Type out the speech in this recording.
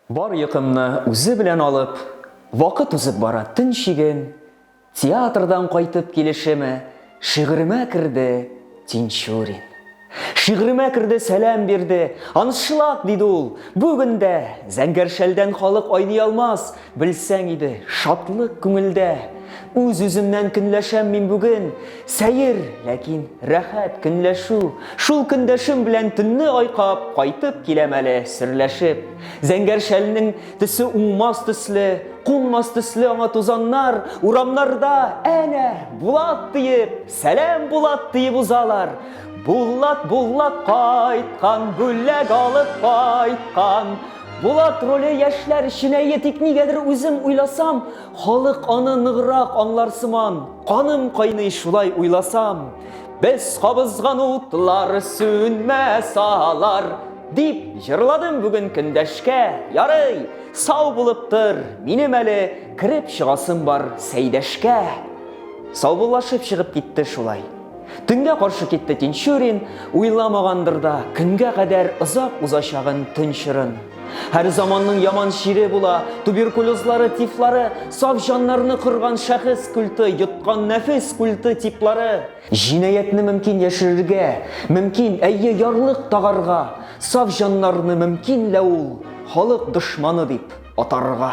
Бар йокымны үзе белән алып, Вакыт узып бара төн чиген, Театрдан кайтып килешеме, Шигыремә керде Тинчурин. Шигыремә керде, сәлам бирде, Аншлаг! диде ул, Бүген дә Зәңгәр шәлдән халык айный алмас, Белсәң иде, шатлык күңелдә. Үз-үземнән көнләшәм мин бүген, Сәер, ләкин рәхәт көнләшү. Шул көндәшем белән төнне айкап, кайтып киләм әле, серләшеп. Зәңгәр шәлнең төсе уңмас төсле, кунмас төсле аңа тузаннар, урамнарда, әнә, Булат диеп, сәлам Булат диеп узалар. Булат, Булат кайткан, бүләк алып кайткан. Булат роле яшьләр өчен әйе, тик нигәдер үзем уйласам, Халык аны ныграк аңлар сыман, каным кайный шулай уйласам. Без кабызган утлар сүнмәс алар, дип җырладым бүген көндәшкә. Ярый, сау булып тор, минем әле кереп чыгасым бар Сәйдәшкә. Саубуллашып чыгып китте шулай. Төнгә каршы китте Тинчурин, уйламагандыр да, көнгә кадәр озак узачагын төн чорын. Һәр заманның яман чире була, туберкулезлары, тифлары, саф җаннарны кырган шәхес культы, йоткан нәфес культы типлары. Җинаятьне мөмкин яшерергә, мөмкин, әйе, ярлык тагарга, саф җаннарны мөмкин лә ул халык дошманы дип атарга.